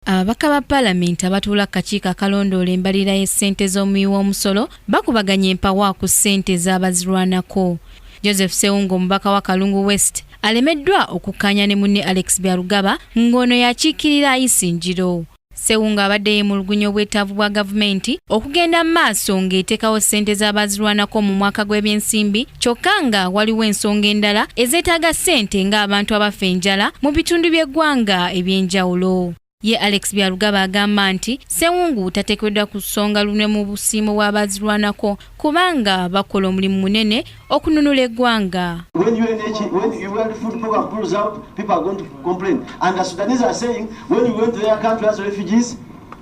Ababaka ba Palamenti abatuula ku kakiiko akalondoola embalirira y'essente z'omuwi w'omusolo bakubaganye empawa ku ssente z'abazirwanako. Joseph Ssewungu omubaka wa Kalungu West alemeddwa okukkaanya ne munne Alex Byarugaba ng'ono y'akiikirira Isingiro. Ssewungu abadde yeemulugunya obwetaavu bwa Gavumenti okugenda mu maaso ng'eteekawo ssente z'abazirwanako mu mwaka gw'ebyensimbi kyokka nga waliwo ensonga endala ezeetaaga ssente ng'abantu abafa enjala mu bitundu by'eggwanga eby'enjawulo ye alex byarugaba agamba nti sewungu tateekeddwa ku ssonga lunwe mu busiimo bw'abazirwanako kubanga bakola omulimu munene okununula eggwanga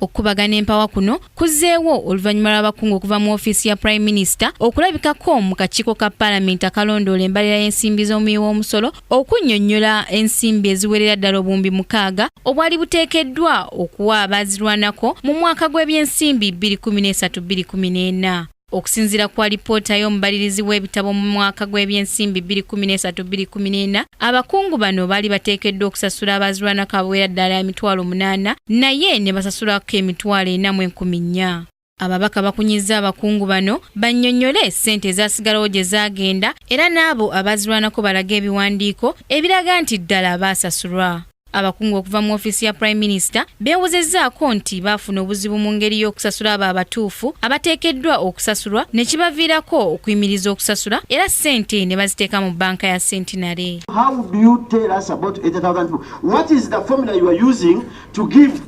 Okukubagana empawa kuno kuzzeewo oluvannyuma lw'abakungu okuva mu ofiisi ya Prime Minister okulabikako mu kakiiko ka Palamenti akalondoola embalira y'ensimbi z'omuwi w'omusolo okunnyonnyola ensimbi eziwerera ddala obuwumbi mukaaga obwali buteekeddwa okuwa abaazirwanako mu mwaka gw'ebyensimbi 2013-2014. Okusinzira ku alipoota y'omubalirizi w'ebitabo mu mwaka gw'ebyensimbi 2013-2014, abakungu bano baali bateekeddwa okusasula abaazirwana kabawera ddala emitwalo munaana naye ne basasulako emitwalo ena mu enkumi nnya. Ababaka bakunyizza abakungu bano bannyonnyole ssente ezaasigalawo gye zaagenda era n'abo abaazirwanako balage ebiwandiiko ebiraga nti ddala baasasulwa. Abakungu okuva mu ofiisi ya Prime Minister beewozezzaako nti baafuna obuzibu mu ngeri y'okusasula abo abatuufu abateekeddwa okusasulwa ne kibaviirako okuyimiriza okusasula era ssente ne baziteeka mu bbanka ya Centenary. How do you tell us about 80,000 people? What is the formula you are using to give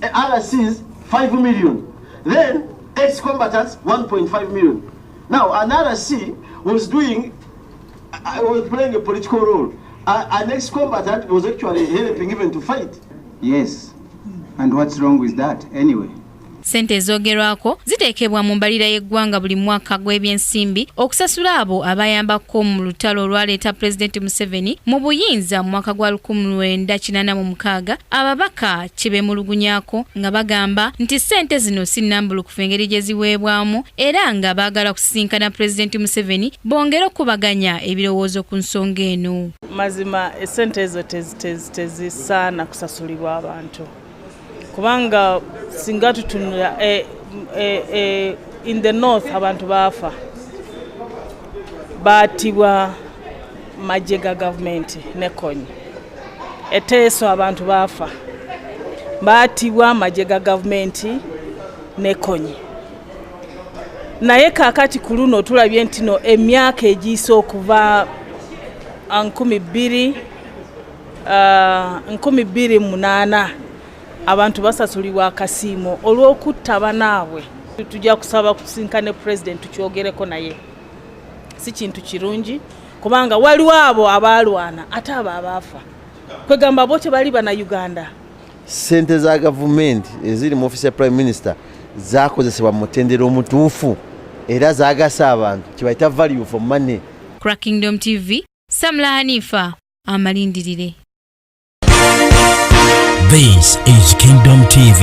RCs 5 million? Then ex-combatants 1.5 million. Now an RC was doing I was playing a political role. Uh, an ex-combatant was actually helping even to fight. Yes. And what's wrong with that anyway? Sente ezogerwako ziteekebwa mu mbalira y'eggwanga buli mwaka gw'ebyensimbi okusasula abo abayambako mu lutalo olwaleeta Pulezidenti Museveni mu buyinza mu mwaka gwa 1986 ababaka kye beemulugunyako nga bagamba nti sente zino si nnambulukufu engeri gye ziweebwamu era nga baagala okusisinkana Pulezidenti Museveni bongere okukubaganya ebirowoozo ku nsonga eno. Mazima essente ezo tezisaana kusasulibwa abantu kubanga singa tutunula eh, eh, eh, in the north abantu baafa baatibwa magye ga gavumenti nekonyi eteeso abantu baafa baatibwa magye ga gavumenti nekonyi naye kakati ku luno tulabye nti no emyaka egiyise okuva ah, nkumi bbiri ah, nkumi bbiri munaana abantu basasulibwa akasiimo olw'okutta banaabwe tujja kusaba kusinka ne pulezidenti tukyogereko naye si kintu kirungi kubanga waliwo abo abaalwana ate abo abaafa kwegamba bo tebali bana uganda Ssente za gavumenti eziri mu ofiisi ya prime minister zakozesebwa mu mutendera omutuufu era zagasa abantu kibayita value for money. Crack Kingdom TV, Samla Hanifa, amalindirire. This is Kingdom TV.